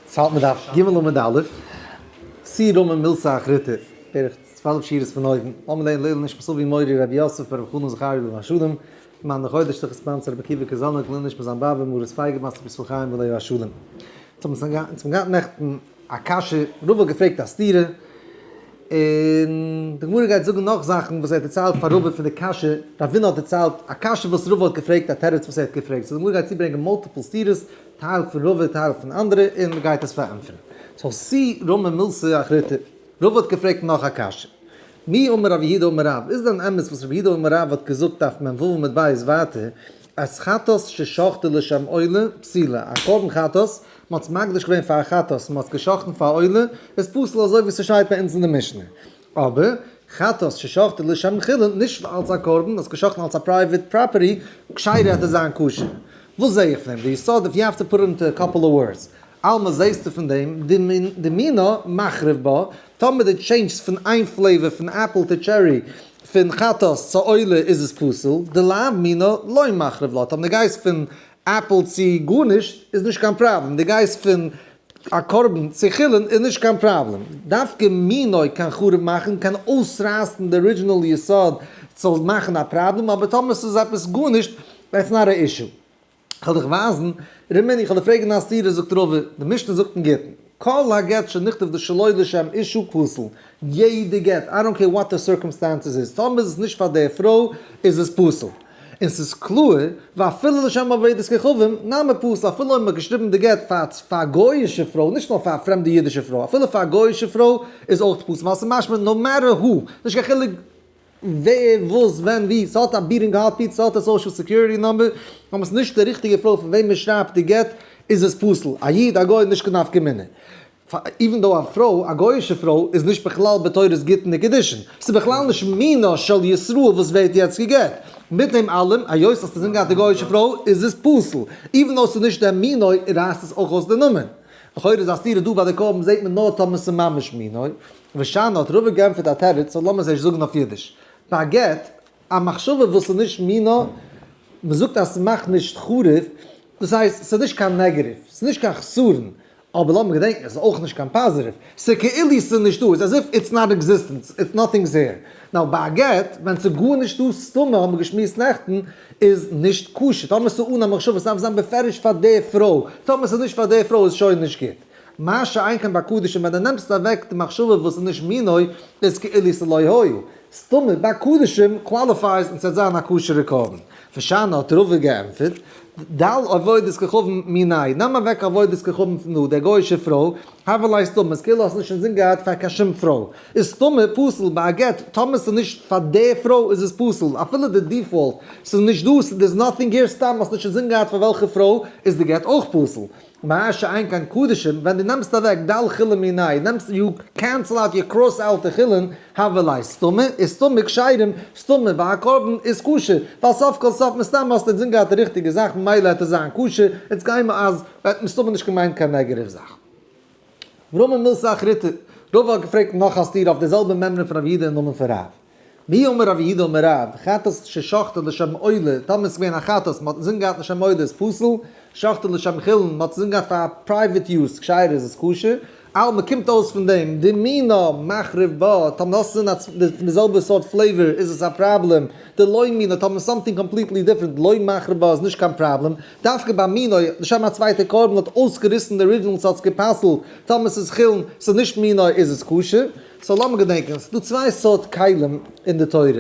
ס'האלט מיט דף ג עמוד א', סי' רמ א מילתא אחריתא, בערך צוועלף שורות פון אויבן, לאמיר לערנען לעילוי נשמת אבי מורי רבי יוסף בן רבי חנן זכריה לוי מהשלום, מן דחודש תחת ספאנסער רבי עקיבא קאזאניק, לעילוי נשמת זיין באבע מרת פייגא בת רבי ישראל חיים עליו השלום. אונז האבן געהאט נעכטן א קשיא, רבא האט געפרעגט א סתירה, און די גמרא גייט זאגן נאך זאכן וואס ער האט דערציילט פאר רבא פון די קשיא, רבינו האט דערציילט א קשיא וואס רבא האט געפרעגט א תירוץ וואס ער האט געפרעגט, סאו די גמרא גייט צוברענגען מאלטיפל סתירות טייל פון רובא טייל פון אנדערע און מען גייט עס פארענטפערן. סאו סי רמא מילסא אחריתא. רובא האט געפרעגט נאך א קשיא. מי אמר רבי יהודה אמר רב, איז דען אמת וואס רבי יהודה אמר רב האט געזאגט אויף מ ו עמוד ב' ווייטער אז חטאת ששחטו לשם עולה פסילה, א קרבן חטאת, מען האט עס מקדיש געווען פאר א חטאת, מען האט עס גע'שחט'ן פאר עולה, איז פסול אזוי ווי ס'שטייט ביי אונז אין די משנה. אבער חטאת ששחטו לשם חילול, נישט אלץ א קרבן, האסט געשחטן אלץ א פרייוועט פראפערטי, כשיר וועט עס זיין כשר. וואס זעה איך פון דעם? די יסוד אויף יו העוו טו פוט אינטו א קאפל אוו ווארדס. עלמא זעהסטו פון דעם דמינו מחריב בה, טאמער די טשעינדזשסט פון איין פלעיוואר פון עפל צו טשערי, פון חטאת צו עולה איז עס פסול, דלאו מינא לא מחריב לה, טאמער די גייסט פון עפל צו גארנישט איז נישט קיין פראבלעם, די גייסט פון א קרבן צו חולין איז נישט קיין פראבלעם, דווקא מינוי קיין חרוב מאכן קיין אויסרייסן די ארידזשינעל יסוד זאל מאכן א פראבלעם אבער טאמער סאיז עפעס גארנישט איטס נאט א אישו. כ'וועל דיך ווייזן ר' מיני, כ'וועל דיר פרעגן א סתירה זאגט רבא, די משנה זאגט אין גטין, כל הגט שנכתב די שלא לשם אישו פסול, יעדע גט, איי דאנט קעיר וואט די סירקאמסטענסעס איז, טאמער איז עס נישט פאר די פרוי איז עס פסול. און ס'איז קלאר, ואפילו לשם עבודת כוכבים, נאמר פשוט אפילו אויב מ'האט געשריבן די גט פאר פאר א גוי'אישע פרוי, נישט נאר פאר א פרעמדע אידישע פרוי, אפילו פאר א גוי'אישע פרוי איז אויך פסול, ווייל ס'איז משמע נאו מעטער האו, נישט קיין חילוק ווער, וואס, ווען, ווי, ס'האט א בירינג קאפי, ס'האט א סאושעל סעקיוריטי נומבער, נאר ס'איז נישט די ריכטיגע פרוי פון וועם מ'שרייבט די גט, איז עס פסול, א איד, א גוי, נישט קיין נפקא מינה. פאר איווען דאו א פרוי, א גוי'אישע פרוי, איז נישט בכלל בתורת גיטין וקידושין, ס'איז בכלל נישט מינה של ישראל וואס ווערט יעצט גע'גט, מיט דעם אלעם, היות אז ס'איז געהאט א גוי'אישע פרוי, איז עס פסול, איווען דאו ס'איז נישט דער מינוי, רייסט עס אויך אויס די נאמען. לכאורה איז א סתירה דא ביי די קרבן זעהט מען נאר טאמער ס'איז ממש מינוי. ושנה האט רבא גענפערט א תירוץ, אבער לאמיר עס ערשט זאגן אויף אידיש. ביי א גט. א מחשבה וואס איז נישט מינא, מען זאגט אז ס'מאכט נישט חרוב, דאס הייסט ס'איז נישט קיין נעגעטיוו, ס'איז נישט קיין חסרון, אבער לאמיר געדענקן עס איז אויך נישט קיין פאזיטיוו, ס'כאילו ס'איז נישטא, איטס עז איף איטס נאט עקזיסטענס, איטס נאטינגס העיר. נאר ביי א גט, ווען ס'איז גארנישטא, סתמא האבן מיר געשמועסט נעכטן, איז נישט כשר, טאמער ס'איז אן א מחשבה, ס'דארף זיין בפירוש פאר די פרוי, טאמער ס'איז נישט פאר די פרוי איז שוין נישט גוט. מה שאין כן ביי קדישים ווען די נעמסט אוועק די מחשבה וואס איז נישט מינוי איז כאילו ס'לא היה, סתמא ביי קדישים קוואליפייס און ס'עט זיין א כשר'ע קרבן. ושנה האט רובה געענטפערט, ד ה עבודת כוכבים מיניה, נעם אוועק עבודת כוכבים פון די גוי'אישע פרוי, הבל לייסט דא מ'איז כאילו האסט נישט אינזין געהאט פאר קיין שום פרוי, איז סתמא פסול ביי א גט טאמער ס'איז נישט פאר די פרוי איז עס פסול אפילו די דיפאלט ס'איז נישט דא ס'איז נאטינג העיר סתם האסט נישט אינזין געהאט פאר וועלכע פרוי איז די גט אויך פסול. מהר ש איין קיין קדשים ווען די נעמסט אוועק ד' חולין מיני נעמסט יו קענסל אוט יו קראס אוט די חולין הבל איז סתמי איז סתמי כשרים סתמי והקרבן איז כשר ווייל סוף כל סוף מסתם האסטו אינזין געהאט די ריכטיגע זאך ממילא העט עס זיין כשר איטס גיימער אז ער האט מסתמא נישט געמיינט קיין נעגעטיוו זאך. רמא מילסא אחריתא, רבא האט געפרעגט נאך א סתירה אויף די זעלבע מימרא פון רב יהודה אין נאמען פון רב. מי אמר רבי יהודה אמר רב, חטאת ששחטו לשם עולה, טאמער ס'געווען א חטאת, מ'האט אינזין געהאט לשם עולה איז פסול, שחטו לשם חילון, מ'האט אינזין געהאט פאר פרייוועט יוז, כשר'ע איז עס כשר, אלא מ'קומט אויס פון דעם, דמינא מחריב בה, טאמער האסט אינזין א צווייטע פון די זעלבע סארט פלעיווער איז עס א פראבלעם, דלא מינא, טאמער סאמטינג קאמפליטלי דיפרענט לא מחריב בה איז נישט קיין פראבלעם, דווקא ביי מינא, לשם א צווייטע קרבן האט אויסגעריסן די ארידזשינעל ס'האט עס געפסל'ט, טאמער ס'איז חילון, ס'איז נישט מינא איז עס כשר. סאו לאמיר געדענקען, ס'דא צוויי סארט כלים אין די תורה,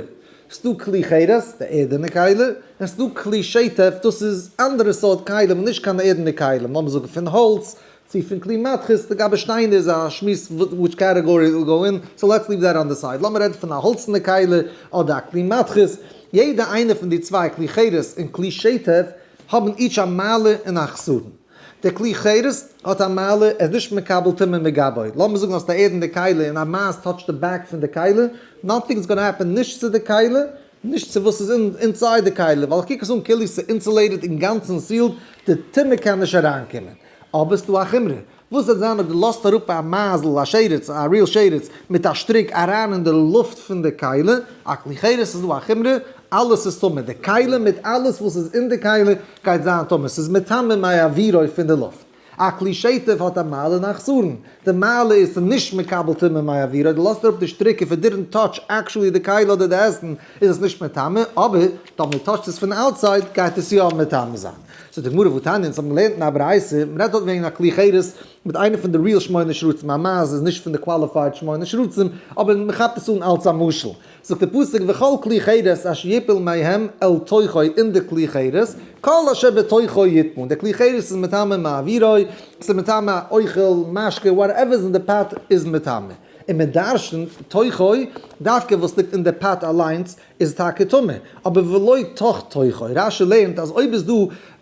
ס'דא כלי חירס, די ערדענע כלי, און ס'דא כלי שטף, דאס איז אנדערע סארט כלים, נישט קיין ערדענע כלים, לאמיר זאגן פון האלץ, צו פון כלי מתכות, לגבי שטיינער איז א שמועס וויטש קעטעגארי איט וויל גאו אין, סאו לעטס ליוו דעט אן די סייד, לאמיר רעדן פון א האלצענע כלי אדער א כלי מתכות, יעדע איינע פון די צוויי, כלי חירס און כלי שטף, האבן איטש א מעלה און א חסרון. דער כלי חרס האט א מעלה, ער איז נישט מקבל טומאה מגבאי, לאמיר זאגן האסט א ערדענע קיילה און א מייז טאטשט די בעק פון די קיילה, נאטינג איז גאנא העפען נישט צו די קיילה, נישט צו וואס איז אינסייד די קיילה, ווייל איך קוק עס אן כאילו ס'איז אינסולעיטעד אינגאנצן סיעלד, די טומאה קען נישט אריינקומען. אבער ס'דא א חומרא, וואס וועט זיין אויב דו לאזט אראפ א מייזל, א שרץ, א ריעל שרץ, מיט א שטריק אריין אין די לופט פון די קיילה, א כלי חרס איז דא א חומרא אלעס איז טמא, די כלים מיט אלעס וואס איז אין די כלים גייט זיין טמא, ס'איז מטמא מאי עבירו פון די לופט. א כלי שטף האט א מעלה און א חסרון, די מעלה איז ס'איז נישט מקבל טומאה מאי עבירו, די לאזט אראפ די שטריק און פון דידענט טאטש עקשועלי די כלי אדער די עסן איז עס נישט מטמא, אבער טאמער מען טאטשט עס פון אוטסייד גייט עס יא מטמא זיין. זאגט די גמרא ותניא, אונז האבן געלערנט אין א ברייתא, מען רעדט דארט וועגן א כלי חירות מיט איינע פון די ריעל שמונה שרצים, א מייז איז נישט פון די קוואליפייד שמונה שרצים, אבער מען כאפט עס אן אלץ א משל, זאגט דער פסוק וכל כלי חרס אשר יפול מהם אל תוכו אין די כלי חרס כל אשר בתוכו יטמון די כלי חרס איז מטמא מעבירו עס איז מטמא אוכל משקה וואטעווער איז אין די פאט איז מטמא און מען דרשנ'ט תוכו דווקא וואס ליגט אין די פאט אליינס איז טאקע טמא אבער ולא תוך תוכו רשי לערנט אז אויב איז דא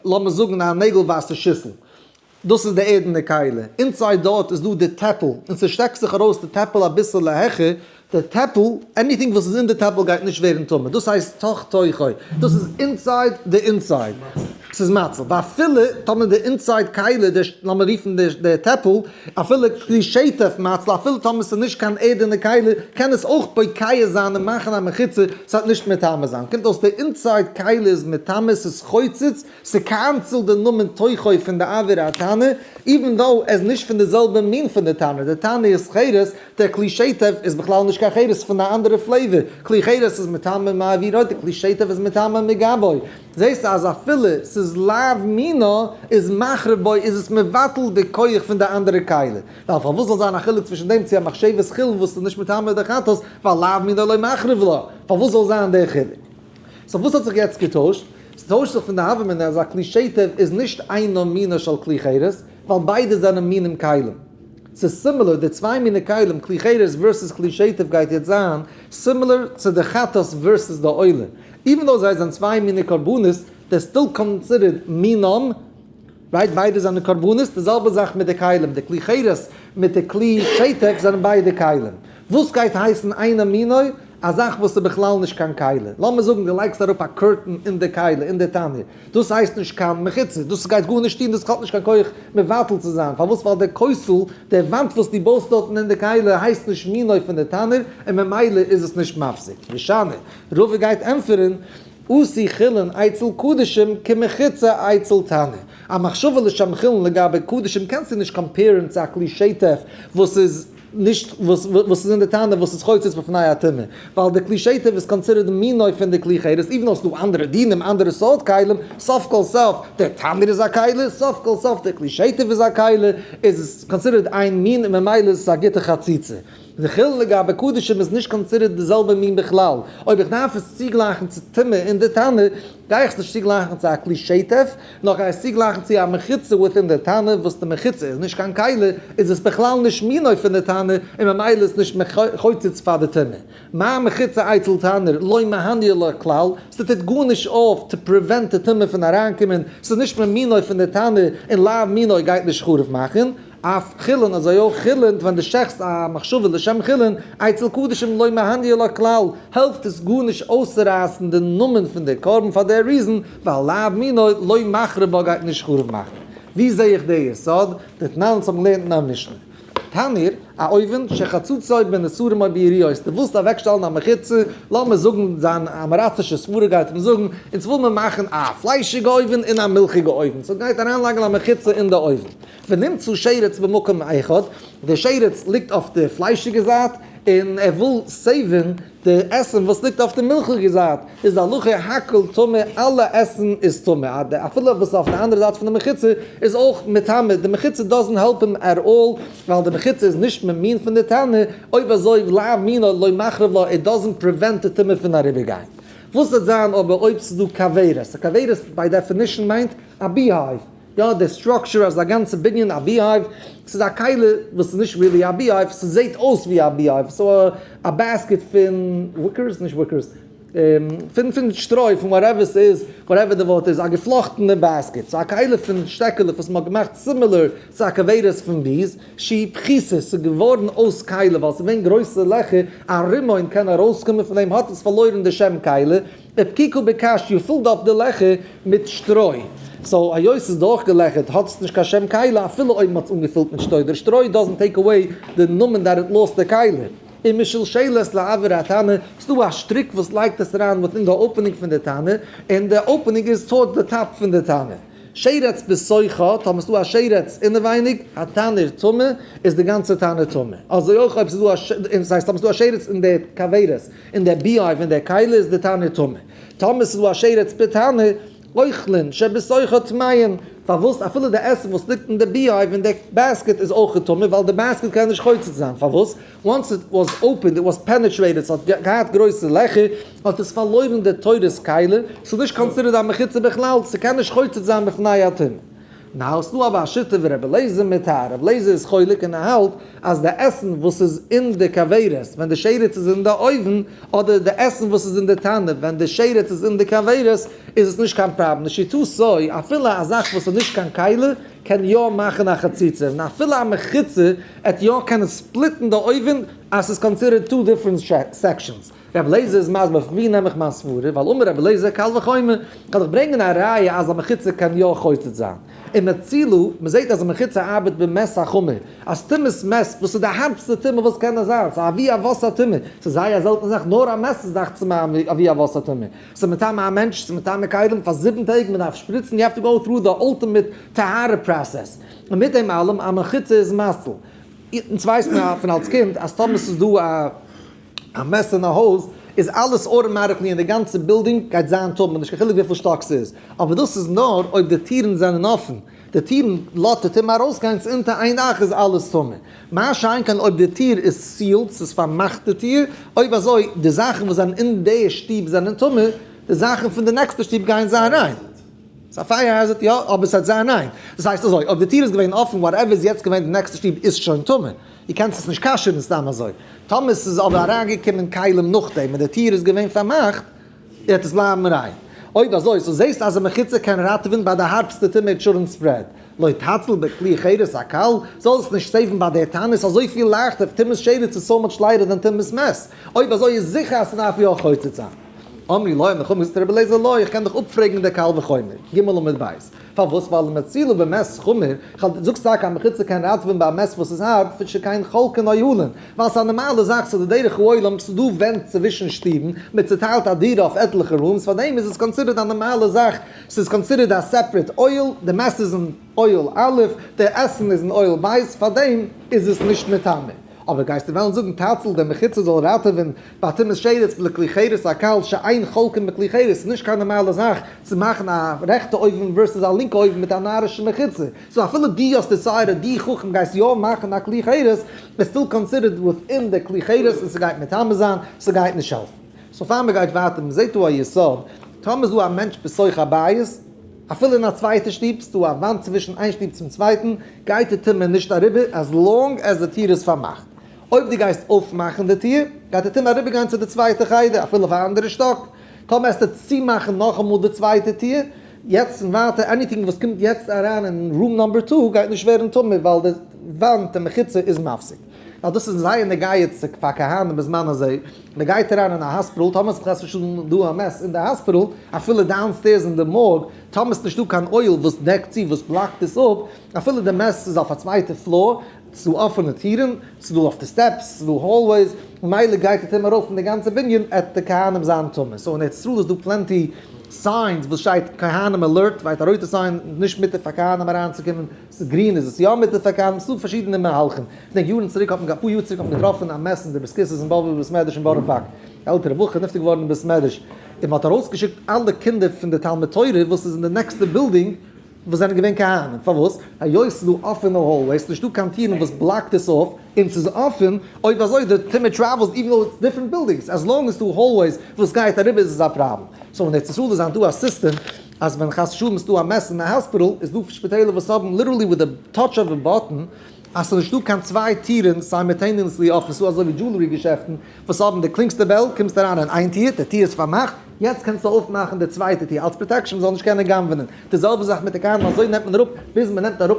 לאמיר זאגן א נעגל ווייסע שיסל דאס איז די ערדענע קיילע, אינסייד דארט איז דא די טעפל, און ס'שטעקט זיך ארויס די טעפל אביסעלע העכער די טעפל, עניטינג וואס איז אין די טעפל גייט נישט ווערן טמא, דאס הייסט תוך תוכו, דאס איז אינסייד די אינסייד, ס'איז מצה, ואפילו טאמער די אינסייד קיילע, לאמיר רופן די טעפל, אפילו קרי שטף מצה, אפילו טאמער ס'איז נישט קיין ערדענע קיילע, קען עס אויך פוקח זיין און מאכן א מחיצה, ס'וועט נישט מטמא זיין, קומט אויס די אינסייד קיילע איז מטמא, ס'איז חוצץ, ס'קענסעלט די נאמען תוכו פון די עבירה התנא, איווען דאו עס איז נישט פון די זעלבע מין פון די טענה, די טענה איז חירות, דער כלי שטף איז בכלל נישט קיין חירות פון א אנדערע פלעיווער, כלי חירות איז מטעמים מעבירות און כלי שטף איז מטעמים מגבוי, זעסט אז אפילו ס'איז לאו מינא איז מחרב בו איז עס מבטל די כח פון די אנדערע כלי, ווייל פארוואס זאל זיין א חילוק צווישן דעם צו א מחשבת חולין וואס איז נישט מטעמי דחתות ווייל לאו מינא לא מחרב לה, פארוואס זאל זיין דער חילוק? סאו וואס האט זיך יעצט געטוישט? ס'טוישט זיך פון די האוועמען אז א כלי שטב איז נישט אינו מינו של כלי חירות, ווייל ביידע זענען מינים כלים. ס'איז סימילער די צוויי מיני כלים כלי חירות ווערסעס כלי שטב גייט יעצט זיין סימילער צו די חטאת ווערסעס די עולה, איווען דאו זיי זענען צוויי מיני קרבנות, דער סטיל קאנסידערט מינם רייט ביידע זענען קרבנות, די זעלבע זאך מיט די כלים, די כלי חירות מיט די כלי שתק זענען ביידע כלים, וואס גייט הייסן איינא מיניה א זאך וואס איז בכלל נישט קיין כלי, לאמיר זאגן די לייגסט אראפ א קורטן אין די כלי אין די תנור, דאס הייסט נישט קיין מחיצה, דאס גייט גארנישט טון, דאס האט נישט קיין כח מבטל צו זיין, פארוואס ווייל די כוסל, די וואנט וואס דו בויסט דארטן אין די כלי הייסט נישט מיניה פון די תנור און ממילא איז עס נישט מפסיק, ושאני רבי גייט ענטפערן. עשי חולין אצל קדשים כמחוצה אצל תנא. א מחשבה לשם חולין לגבי קדשים קענסטו נישט קאמפעירן צו א כלי שטף וואס איז נישט וואס איז אין די תנא וואס איז חוצץ בפני הטומאה, ווייל די כלי שטף איז קאנסידערט מינוי פון די כלי חירות איבן האסטו אנדערע דינים אנדערע סארט כלים, סוף כל סוף דער תנור איז א כלי, סוף כל סוף דער כלי שטף איז א כלי, איז עס קאנסידערט איין מין און ממילא איז עס א גוטע חציצה. די חילול לגבי קדשים איז נישט קאנסידערט די זעלבע מין בכלל. אויב איך דארף עס צוגלייכן צו טומאה אין די תנא, גיי איך עס נישט צוגלייכן צו א כלי שטף, נאר כ'גיי עס צוגלייכן צו א מחיצה וויטין די תנא, וואס די מחיצה איז נישט קיין כלי, איז עס בכלל נישט מינו פון די תנא, און ממילא איז נישט חוצץ פאר די טומאה. מה מחיצה אצל תנא, לא מהניע לו כלל, ס'טוט גארנישט אויף טו פריווענט די טומאה פון אריינקומען, ס'איז נישט ממינו פון די תנא, און לאו מינו גייט נישט חרוב מאכן. אויף חולין, אזוי אויך חולין ווען דו שעכסט א מחשבה לשם חולין, אצל קדשים לא מהניע לו כלל, העלפט עס גארנישט אויסצורייסן די נאמען פון די קרבן פאר די ריזן, ווייל לאו מינא לא מחריב בה גייט נישט חרוב מאכן. ווי זע איך די יסוד? די תנא וואס האבן געלערנט אין א משנה. תניר, א אויווען, שחצוצו בין אסורים אויב די יריעות, די ווילסט אוועק שטעלן א מחיצה, לאמיר זאגן זיין אמעראצישע סברה גייט אים זאגן, אונז וויל מיר מאכן א פליישיגע אויווען און א מילכיגע אויווען, סאו גייט אריינלייגן א מחיצה אין די אויווען. ונמצא שרץ במקום האחד, די שרץ ליגט אויף די פליישיגע זייט, און ער וויל סעיווען די עסן וואס ליגט אויף די מילכיגע זייט, איז די הלכה הכל טמא, אלע עסן איז טמא, אפילו וואס איז אויף די אנדערע זייט פון די מחיצה איז אויך מטמא, די מחיצה דאזענט העלפ אים עט אלל, ווייל די מחיצה איז נישט ממין פון די טענה, אויב אזוי לא אמינא לא מחריב לה, איט דאזענט פריווענט די טומאה פון אריבער גיין. וואס וועט זיין אבער אויב ס'איז דא כוורת? א כוורת ביי דעפינישן מיינט א בּי-הײַוו, יא די סטראקטשער אז א גאנצע בנין א ביהייוו, ס'איז א קהלה וואס איז נישט ריעלי א ביהייוו, ס'זעהט אויס ווי א ביהייוו, סאו א בעסקעט פון וויקערס, נישט וויקערס, פון פון שטרוי פון וואטעווער ס'איז, וואטעווער די ווארט איז, א געפלאכטענע בעסקעט, סאו א קהלה פון שטעקעלעך וואס מ'האט געמאכט סימילער צו א כוורת פון ביז ש בכיסא, ס'איז געווארן אויס קהלה ווייל ס'איז געווען גרויסע לעכער ארום און קען ארויסקומען פון דעם האט עס פארלוירן די שם קהלה, ופקיקו בקש יו פילט אפ די לעכער מיט שטרוי, סאו היות ס'איז דורכגעלעכערט האט עס נישט קיין שם קיילה אפילו אויב מ'האט עס אנגעפילט מיט שטוי, דער שטרוי דאזענט טעיק עוועי די נאמען דאט איט לאסט די קיילה און משלשל עס לעבר התנא, ס'דא א שטריק וואס לייגט עס אריין וויטין די אופענינג פון די תנא און די אופענינג איז טאווארדס די טאפ פון די תנא. שרץ בסוי ח, טאמער ס'דא א שרץ אינעווייניג התנור טמא איז די גאנצע תנא טמא, אזוי אויך אויב ס'איז דא א ש, דאס הייסט טאמער ס'איז דא א שרץ אין די כוורת. און דער ביהמ ד פון דער קהלה איז די תנור טמא. טמא ס'איז דא א שרץ פ תנא, אוכלין שבסוכו טמאין, פארוואס אפילו די עסן וואס ליגט אין די ביהמ ד אין די בעסקעט איז אויך טמא, ווייל די בעסקעט קען נישט חוצץ זיין, פארוואס? once it was opened it was penetrated ס'האט געהאט גרויסע לעכער, האט עס פארלוירן די תורת קהלה, ס'איז נישט קאנסידערד א מחיצה בכלל, ס'קען נישט חוצץ זיין בפני הטומאה. נאר ס'דא אבער א שיטה ווי רבי לעזער מיט הרב לעזער איז חולק און ער האלט אז די עסן וואס איז אין די כוורת ווען די שרץ איז אין די אויוון אדער די עסן וואס איז אין די טענער ווען די שרץ איז אין די כוורת איז עס נישט קיין פראבלעם לשיטתו סוי אפילו א זאך וואס איז נישט קיין כלה קען יא מאכן א חציצה און אפילו א מחיצה עט יא קען עס ספליטן די אויוון אז ס'איז קאנסידערט טו דיפרענט סעקשאנס. רבי אליעזר איז מסביר פון ווי נעם איך מיין סברה, ווייל אמר רבי אליעזר קל וחומר, כ'וועל דאך ברענגען א ראיה אז א מחיצה קען יא חוצץ זיין. און מצילא, מ'זעט אז א מחיצה ארבעט במס החומר, אז טומאת מס, וואס איז די הארבסטע טומאה וואס קען נאר זיין, ס'איז א אבי אבות הטומאה, ס'איז זייער א זעלטענע זאך, נאר א מס איז דאכצעך מיר אן אבי אבות הטומאה. ס'איז מטעם א מענטש, ס'איז מטעם א כלים, פאר זיבן טעג, מ'דארף שפריצן, יו העוו טו גאו טרו די אולטימעט טהרה פראסעס. און מיט דעם אלעם, א מחיצה איז מציל. יעצט ווייסט מען פון אלס קינד אז טאמער ס'איז דא א. א מעסס אין א הויז איז אלעס אוטאמעטיקלי אין די גאנצע בילדינג גייט זיין טאמער נישט קיין חילוק וויפיל שטאק ס'איז אבער דאס איז נאר אויב די טירן זענען אפען די טירן לאט די טעם ארויסגיין צו אונטער איין דאך איז אלעס טאמער מה שאין כן אויב די טיר איז סיעלד ס'איז פארמאכט די טיר אויב אזוי די זאכן וואס זענען אין די שטוב זענען טאמער די זאכן פון די נעקסטע שטוב גייען זיין ריין. ס'איז א פייער העזערד יא אבער ס'הייט זיין ריין דאס הייסט אזוי אויב די טיר איז געווען אפען וואטעווער איז יעצט געווען די נעקסטע שטוב איז שוין טאמער. דו קענסט עס נישט כשר'ן סתם אזוי. טאמער ס'איז אבער אריינגעקומען כלים נאכדעם און די טיר איז געווען פארמאכט, וועט עס בלייבן ריין. אויב אזוי, סאו זעסטו אז א מחיצה קען ראטעווען ביי די הארבסטע טומאת שרון ספרעד, לא תצל בכלי חרס הקל, זאל עס נישט סעיוון ביי די טענות אזויפיל לייכטער, טומאת שרץ איז סאו מאטש ליידער דען טומאת מעז, אויב אזוי איז זיכער אז ס'דארף יא חוצץ זיין. אמרי לוי, מ'כאפ מ'זאגט רבי אליעזר לוי, איך קען דיך אפפרעגן אין די קל וחומר, ג עמוד ב'. פארוואס? ווייל די מציל איז באמת חמור, כ'האב דיר זאגסט טאקע א מחיצה קען ראטעווען ביי א מעש וואס איז הארט, פון ש קיין חלקי נויהלען, ווייל ס'איז א נארמאלע זאך, ס'איז די דרך העולם, ס'איז דא ווענט צווישן שטיבן, מען צוטיילט א דירה אויף עטליכע רומס, פארדעם איז עס קאנסידערט א נארמאלע זאך, ס'איז קאנסידערט א סעפרעט אוהל, די מעש איז אין אוהל א', די עסן איז אין אוהל ב', פארדעם איז עס נישט מטמא. אבער גייסטו וועלן זאגן טייטל דער מחיצה זאל ראטעווען ביי תימות שרץ בלע כלי חרס א קל שאין חולקין בכלי חרס ס'איז נישט קיין נארמאלע זאך צו מאכן א רעכטע אויבן ווערסעס א לינקע אויבן מיט א נארישע מחיצה סאו אפילו די האסט די סייעתא די חכם גייסט יא מאכן א כלי חרס איז סטיל קאנסידערט וויטין די כלי חרס און ס'גייט מטמא זיין ס'גייט נישט העלפן סאו פאר מ'גייט ווייטער מ'זעהט דא א יסוד טאמער איז דא א מענטש בסוך הבית אפילו אין א צווייטע שטוב ס'דא א וואנט צווישן איין שטוב צום צווייטן, גייט די טומאה נישט אריבער אז לאנג עז די טיר איז פארמאכט. אויב דו גייסט אויפמאכן די טיר, גייט די טומאה אריבערגיין צו די צווייטע חדר, אפילו אויף א אנדערע שטאק. טאמער העסטו צומאכן נאכאמאל די צווייטע טיר, יעצט און ווייטער עניטינג וואס קומט יעצט אריין אין רום נאמבער טו גייט נישט ווערן טמא ווייל די וואנט, די מחיצה, איז מפסיק. ווייל דאס איז זייער נוגע איצטיג פאר כהנים בזמן הזה, מען גייט אריין אין א האספיטאל, טאמער ס'איז חס ושלום דא א מעס אין די האספיטאל, אפילו דאון סטעירס אין די מארג, טאמער ס'נישט דא קיין אויל וואס דעקט צו, וואס בלאקט עס אפ, אפילו די מעס איז אויף א צווייטע פלאר, ס'איז דא אפענע טירן, ס'איז דא אויף די סטעפס, ס'איז דא האלוועיס, ממילא גייט אטעם ארויס פון די גאנצע בנין, עט די כהנים זיין טמא, סאו אין ארץ ישראל איז דא פלענטי סיינס וואס שטייט כהנים אלערט, ווייט א רויטע סיין, נישט מותר פאר כהנים אריינצוקומען, ס'איז גרין איז עס יא מיט די פארקאנט, ס'דא פארשידענע מהלכים, כ'דענק יארן צוריק האט מען, אפאר יאר צוריק האט מען געטראפן א מעסענדזשער וואס קיסס אין בבל בית מדרש אין בארא פארק, א עלטערע בחור איז נפטר געווארן אין בית מדרש, און מען האט ארויסגעשיקט אלע קינדער פון די תלמוד תורה וואס איז אין די נעקסטע בילדינג וואס זענען געווען כהנים, פארוואס? היות ס'איז דא אפענע האלוועיס, נישט דא קיין טירן וואס בלאקט עס אויף, און ס'איז אפען, אויב אזוי די טומער טרעוועלס איווען דאו איטס דיפרענט בילדינגס, עז לאנג עז ס'איז דא האלוועיס וואס גייט אריבער איז עס א פראבלעם, סאו אין ארץ ישראל איז היינט דא א סיסטעם, אז ווען חס ושלום איז דא א מעס אין א האספיטעל, איז דא שפיטעלער וואס האבן ליטערלי וויט די טאטש אוו א באטען, אז ס'איז נישטא קיין צוויי טירן סיימעטעניעסלי אפען, ס'איז אזוי ווי דזשולערי געשעפטן וואס האבן די קלינגסטע בעל, קומסט אריין אין איין טיר, די טיר איז פארמאכט, יעצט קענסטו אויפמאכן די צווייטע טיר, אלץ פראטעקשן מ'זאל נישט קענען גנב'נען, די זעלבע זאך מיט די קארן, אזוי נעמט מען אראפ, ביז מ'נעמט אראפ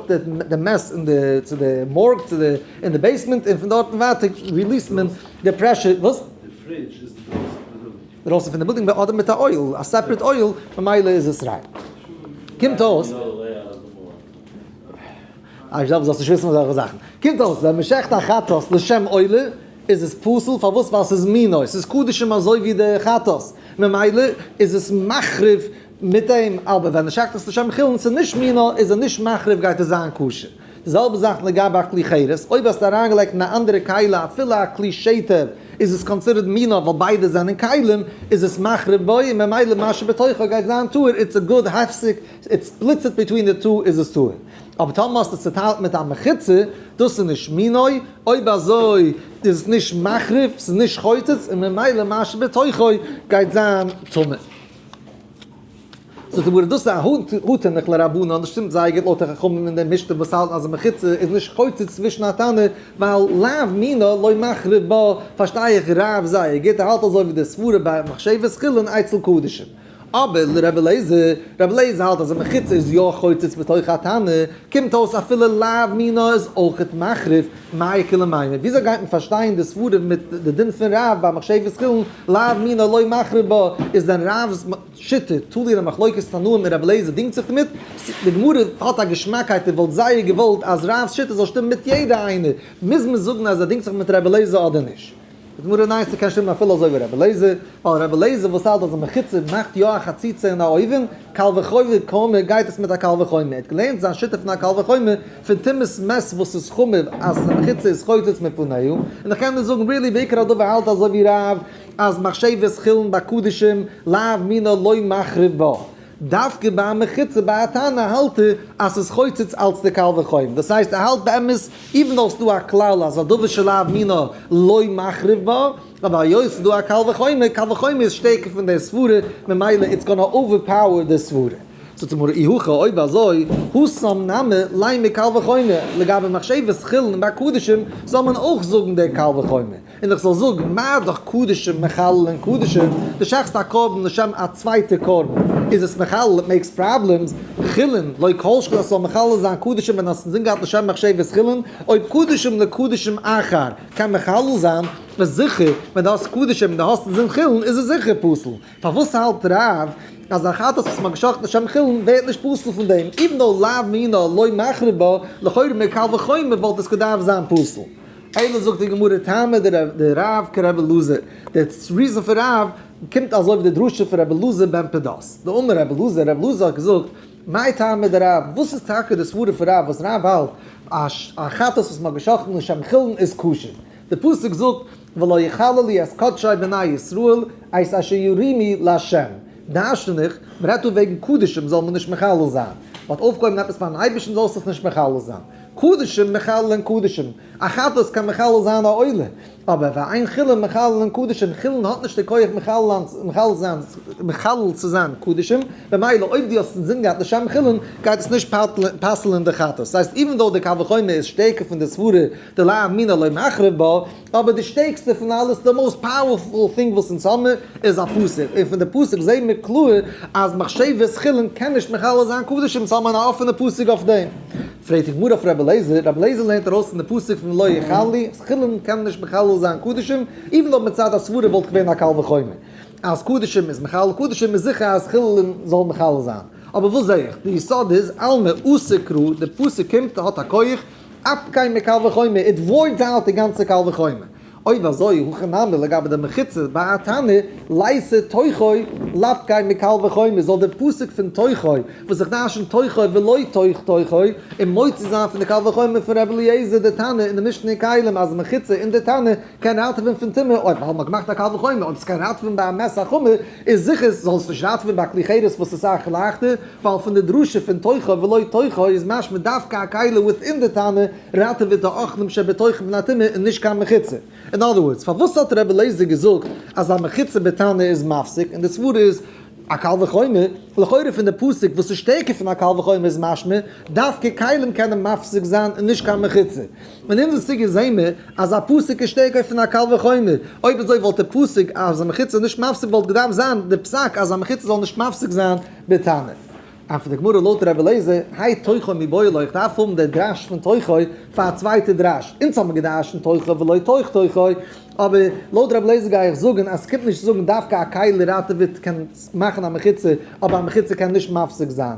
די מעס אין די, צו די מארג, צו די, אין די בעיסמענט, און פון דארטן ווייטער ריליעסט מען די פרעשור, וואס? די פרידזש איז אינדרויסן פון די בילדינג. דרויסן פון די בודינג ביי אדער מיט א אויל, א סעפרעט אויל, ממילא איז עס ריין. קומט אויס. איך זאל נישט וויסן אזעלכע זאכן. קומט אויס ווען מען שעכט א חטאת לשם עולה איז עס פסול, פארוואס? ווייל ס'איז מינות, ס'איז קדשים אזוי ווי די חטאת, ממילא איז עס מחריב מיט דעם, אבער ווען מען שעכט עס לשם חולין, ס'איז נישט מינות, איז ער נישט מחריב גייט עס זיין כשר. די זעלבע זאך לגבי א כלי חירות, אויב האסטו אריינגעלייגט אין א אנדערע כלי אפילו א כלי שטר איז עס קאנסידערט מינו' ווייל ביידע זענען כלים איז עס מחריב בו און ממילא מה שבתוכו גייט זיין טהור איטס א גוד הפסק איט ספליטס איט ביטווין די טו איז עס טהור אבער טאמער האסטו עס צוטיילט מיט א מחיצה דאס איז נישט מינו' אויב אזוי איז עס נישט מחריב ס'איז נישט חוצץ און ממילא מה שבתוכו גייט זיין טמא. זאגט די גמרא דאס איז א הוה תנא כלרבנן, דאס שטימט זייער גוט לויט די חכמים אין די משנה וואס האלטן אז די מחיצה איז נישט חוצץ צווישן א תנא, ווייל לאו מינא לא מחריב בה, פארשטיי איך רב זייער גוט, ער האלט אזוי ווי די סברה ביי מחשבת חולין אצל קדשים. אבער לרבי אליעזר, רבי אליעזר האלט אז די מחיצה איז יא חוצץ בתוך א תנא, קומט אויס אפילו לאו מינא איז אויכעט מחריב, מאי קא למיינא, וויאזוי גייט מען פארשטיין די סברה מיט די דין פון רב ביי מחשבת חולין, לאו מינא לא מחריב בה, איז דען רב'ס. שיטה, טול איר א מחלוקת תנאים מיט רבי אליעזר דינגט זיך דערמיט? די גמרא האט א געשמאקייט איר וואלט זייער געוואלט אז רב'ס שיטה זאל שטימען מיט יעדע איינער, מוז מען זאגן אז ער דינגט זיך מיט רבי אליעזר אדער נישט? די גמרא ניין ס'קען שטימען אפילו אזוי ווי רבי אליעזר, ווייל רבי אליעזר וואס האלט אז א מחיצה מאכט יא א חציצה אין א אויווען, קל וחומר קאומער גייט עס מיט א קל וחומר, ער האט געלערנט זיין שיטה פון א קל וחומר פון תמוז מס' וואס איז חמור אז די מחיצה איז חוצץ מפניו, און איך קען נישט זאגן ריעלי בעיקר הדבר האלט אזוי ווי רב. אז מחשבת חולין ביי קדישים לאו מינא לא מחריב בה, דווקא ביי א מחיצה ביי א תנא האלט ער אז ס'איז חוצץ אלץ די קל וחומר, דאס הייסט ער האלט באמת איווען דאו ס'דא א כלל אז א דבר שלאו מינא לא מחריב בה, אבער היות ס'דא א קל וחומר, קל וחומר איז שטערקער פון די סברה, ממילא איטס גאנא אווער פאוער די סברה. זאגט די גמרא אי הכא אויב אזוי הוסם נמי ליה מקל וחומר, לגבי מחשבת חולין ביי קדישים זאל מען אויך זאגן די קל וחומר, און איך זאל זאגן, מה דאך קדשים מחללין קדשים, דו שחט'סט א קרבן לשם א צווייטע קרבן, איז עס מחלל, איט מעיקס פראבלעמס, חולין, לא כל שכן עס זאל מחלל זיין קדשים ווען האסט עס אינזין געהאט לשם מחשבת חולין, אויב קדשים לקדשים אחר קען מחלל זיין, איז זיכער, ווען דו האסט קדשים און דו האסט אינזין חולין איז עס זיכער פסול, פארוואס האלט רב אז א חטאת וואס מען האט גע'שחט'ט לשם חולין ווערט נישט פסול פון דעם, איווען דאו לאו מינא לא מחריב בה, לכאורה מקל וחומר וואלט עס געדארפט זיין פסול. אייוועלט זאגט די גמרא טעמא דרבי רב כרבי אלעזר, די ריזען פון רב קומט אזוי ווי די דרשה פון רבי אלעזר בן פדות, דאמר רבי אלעזר, רבי אלעזר האט געזאגט, מאי טעמא דרב, וואס איז טאקע די סברה פון רב וואס רב האלט אז א חטאת וואס מען האט געשאכטן לשם חילון איז כשר? די פסוק זאגט, ולא יחללו לי את קדשי בני ישראל, את אשר ירימי לה', דרשן איך, מען רעדט דא וועגן קדשים זאל מען נישט מחלל זיין, מ'האט אויפגעהויבן עפעס פארן אייבערשטן זאלסט עס נישט מחלל זיין. קדשים מחללין קדשים, א חטאת קען מחלל זיין א עולה, אבער ואין חילין מחללין קדשים, חילין האט נישט די כח מחלל צו זיין קדשים, ממילא אויב דו האסט עס געזינגען געהאט לשם חילין, גייט עס נישט פסל'ען די חטאת. ס'הייסט, איווען דאו די קל וחומר איז שטערקער פון די סברא דלא אמינא לא מחריב בה, אבער די שטערקסטע פון אלעס, די מאוסט פאוערפול טינג וואס אונז האמיר, איז א פסוק, און פון די פסוק זעהן מיר קלאר אז מחשבת חולין קען נישט מכלה זיין קדש, אונז האמיר א אפענע פסוק אויף דעם. פרעגט די גמרא פון רבי אליעזר, רבי אליעזר לערנט ארויס פון די פסוק פון לא יכאל לי, אז חולין קען נישט מכלה זיין קדשים, איבן דאו מצד הסברה וואלט געווען א קל וחומר אז קדשים איז מכלה קדשים, איז זיכער אז חולין זאל מכלה זיין. אבער וואס זעה איך? די יסוד איז, עלמא אסא כרא, די פסוק קומט, האט א כח, אט קיין מער קל וחומר, איט וואויטס אוט די גאנצע קל וחומר. אויב אזוי, הכא נמי לגבי די מחיצות ביי א תנא, לייסער תוכו, לאו קיין מער קל וחומר, זאל דער פסוק פון תוכו, וואס איך דרשן תוכו ולא תוך תוכו, און מוציא זיין פון די קל וחומר פון רבי אליעזר דער תנא אין די משנה אין כלים אז מחיצה אין די תנא קיין ראטעווען פון טומאה, אויב וואלט מען געמאכט א קל וחומר, אויב ס'איז קיין ראטעווען ביי א מעשה חמור, איז זיכער זאל עס נישט ראטעווען ביי א כלי חירות וואס איז סאך לייכטער, ווייל פון די דרשה פון תוכו ולא תוכו איז משמע דווקא א כלי וויטין די תנא ראטעוועט די אוכלים שבתוכו פון א טומאה און נישט קיין מחיצה. אין אדער ווארדס, פארוואס האט רבי אליעזר געזאגט אז א מחיצה בתנא איז מפסיק און די סברה איז א קל וחומר? לכאורה פון די פסוק וואס איז שטערקער פון א קל וחומר איז משמע דווקא כלים קענען מפסיק זיין און נישט קיין מחיצה. און אין די סוגיא זעהן מיר אז א פסק איז שטערקער פון א קל וחומר, אויב אזוי וואלט דער פסק אז א מחיצה איז נישט מפסיק וואלט געדארפט זיין דער פסק אז א מחיצה זאל נישט מפסיק זיין בטענה. און פון די גמרא לויט רבי אליעזר האי תוכו מבעולו איך דארף האבן דער דרש פון תוכו פאר א צווייטע דרש, אונז האבן מיר געדארשט אין תוכו ולא תוך תוכו, אבער לויט רבי אליעזר גיי איך זאגן אז ס'קומט נישט צו זאגן דווקא א כלי ראטעוועט קען מאכן א מחיצה אבער א מחיצה קען נישט מפסיק זיין.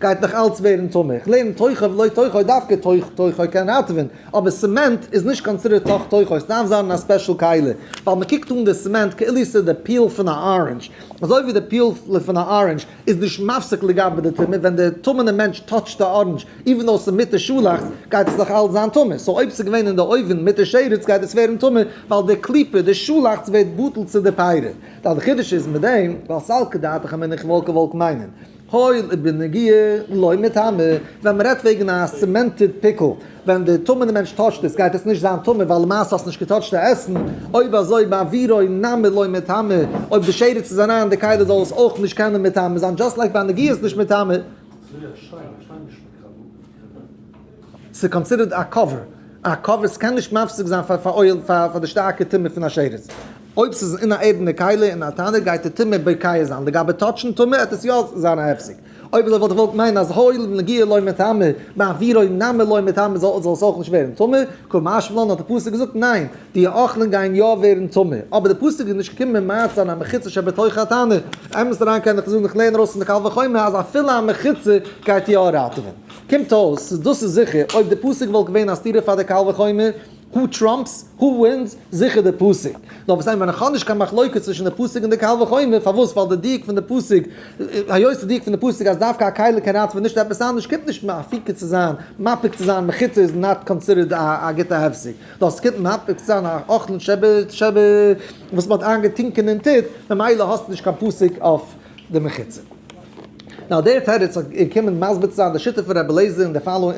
גייט נאך אלץ ווערן טמא. איך לערן תוכו ולא תוכו דווקא תוך תוכו קען ראטעווען, אבער סעמענט איז נישט קאנסידערט תוך תוכו, עס דארף זיין אין א ספעשל קעלער, ווייל מען קוקט אן די סעמענט כאילו ס'איז די פיל פון א ארענדזש, אזוי ווי די פיל פון א ארענדזש איז נישט מפסיק לגבי די טומאה, ווען די טמא'נע מענטש טאטשט די ארענדזש איווען דאו ס'איז מיט די שאלאכץ גייט עס נאך אלץ זיין טמא, סאו אויב ס'איז געווען אין די אויווען מיט די שרץ גייט עס ווערן טמא ווייל די קליפה, די שאלאכץ ווערט בטל צו די פירות. די חידוש איז מיט דעם, ווייל סלקא דעתך מיניך וואלקע וואלק מיינען. הואיל און בנוגע לא מטמא, ווען מען רעדט וועגן א סימענטעד פיקל, ווען די טמא די מענטש טאטשט עס גייט עס נישט זיין טמא ווייל למעשה האסט נישט געטאטשט די עסן, אויב אזוי ביי עבירה נמי לא מטמא, אויב די שרץ איז אריין אין די כלים זאל עס אויך נישט קענען מטמא זיין, דזשאסט לייק ביי נגיעות נישט מטמא. ס'איז קאנסידערט א קאווער, א קאווער, ס'קען נישט מפסיק זיין פאר די שטארקע טומאה פון א שרץ. אויב ס'איז אין א ערדענע כלי אין א טענער גייט די טומאה בוקע זיין, לגבי טאטשן טומאה העט עס יא זיין א הפסק, אויב אזוי וואלט איך געוואלט מיינען אז הואיל ונגיעה לא מטעמא, מעבירו נמי לא מטעמא זאל עס אויך נישט ווערן טמא, כא משמע לן האט די פסוק געזאגט ניין, די האכלען גייען יא ווערן טמא, אבער די פסוק איז נישט געקומען מעצה אן המחיצה שבתוך התנור, אמת אריין קען איך זאגן איך לערן ארויס פון די קל וחומר אז אפילו א מחיצה גייט יא ראטעווען, קומט אויס דאס איז זיכער אויב די פסוק וואלט געווען א סתירה פאר די קל וחומר, הו טראמפס הו ווינס, זיכער די פסוק. נאר וואס איי ווען איך האב נישט קיין מחלוקת צווישן די פסוק און די קל וחומר, פארוואס ווייל די דיוק פון די פסוק, היות די דיוק פון די פסוק אז דווקא א קייליק קען ראטווען נישט עפעס אנדערש קומט נישט מפיק צו זיין, מפיק צו זיין מחיצה איז נאט קאנסידערט א גוטע הפסק, נאר עס קומט מפיק צו זיין א אכלן ש ב ש ב וואס מ'האט איינגעטינקען אין טוט, ממילא האסטו נישט קיין פסוק אויף די מחיצה. נאר דער תירוץ איז געקומען מסביר צו זיין די שיטה פון רבי אלעזר אין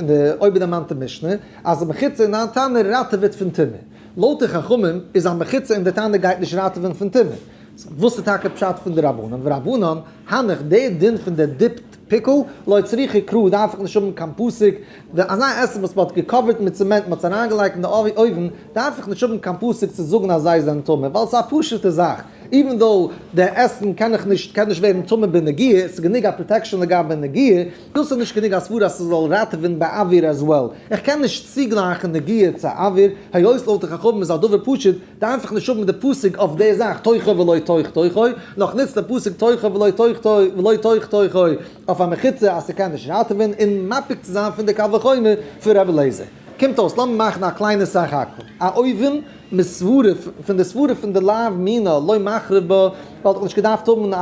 די אויבערדערמאנטע משנה, אז א מחיצה אין דיין טענה ראטעוועט פון טומאה. לויט די חכמים איז א מחיצה אין די טענה גייט נישט ראטעווען פון טומאה. וואס איז טאקע פשט פון די רבנן ורבנן הנך די דין פון די דיפד פיקל לא צריכי קרא דארף איך נישט האבן קיין פאסיק די אזא עסן וואס מ'האט געקאווערט מיט צעמענט און מ'האט עס אריינגעלייגט אין די אויוון דארף איך נישט האבן קיין פאסיק צו זאגן אז זיי זענען טמא ווייל ס'איז א פשוטע זאך איווען דאו די עסן קען איך נישט קען נישט ווערן טמא בנגיעה ס'איז גענוג א פראטעקשאן לגבי נגיעה. דאס איז נישט גענוג א סברא אז ס'זאל ראטעווען ביי אוויר עז וועל. איך קען נישט צוגלייכן נגיעה צו אוויר, היות לויט די חכמים איז א דבר פשוט, די איינפאך נשאר מיט די פסוק אויף די זאך תוכו ולא תוך תוכו, און איך נוץ די פסוק תוכו ולא תוך תוכו ולא תוך תוכו אויף א מחיצה אז ס'קען נישט ראטעווען און מפיק צו זיין פון די קל וחומר פון ר' אליעזר. קומט אויס, לאמיר מאכן א קליינע סך הכל, א אויבן מיט סברא פון די סברא פון די לאו מינא לא מחריב בה, וואלט איך נישט געדארפט האבן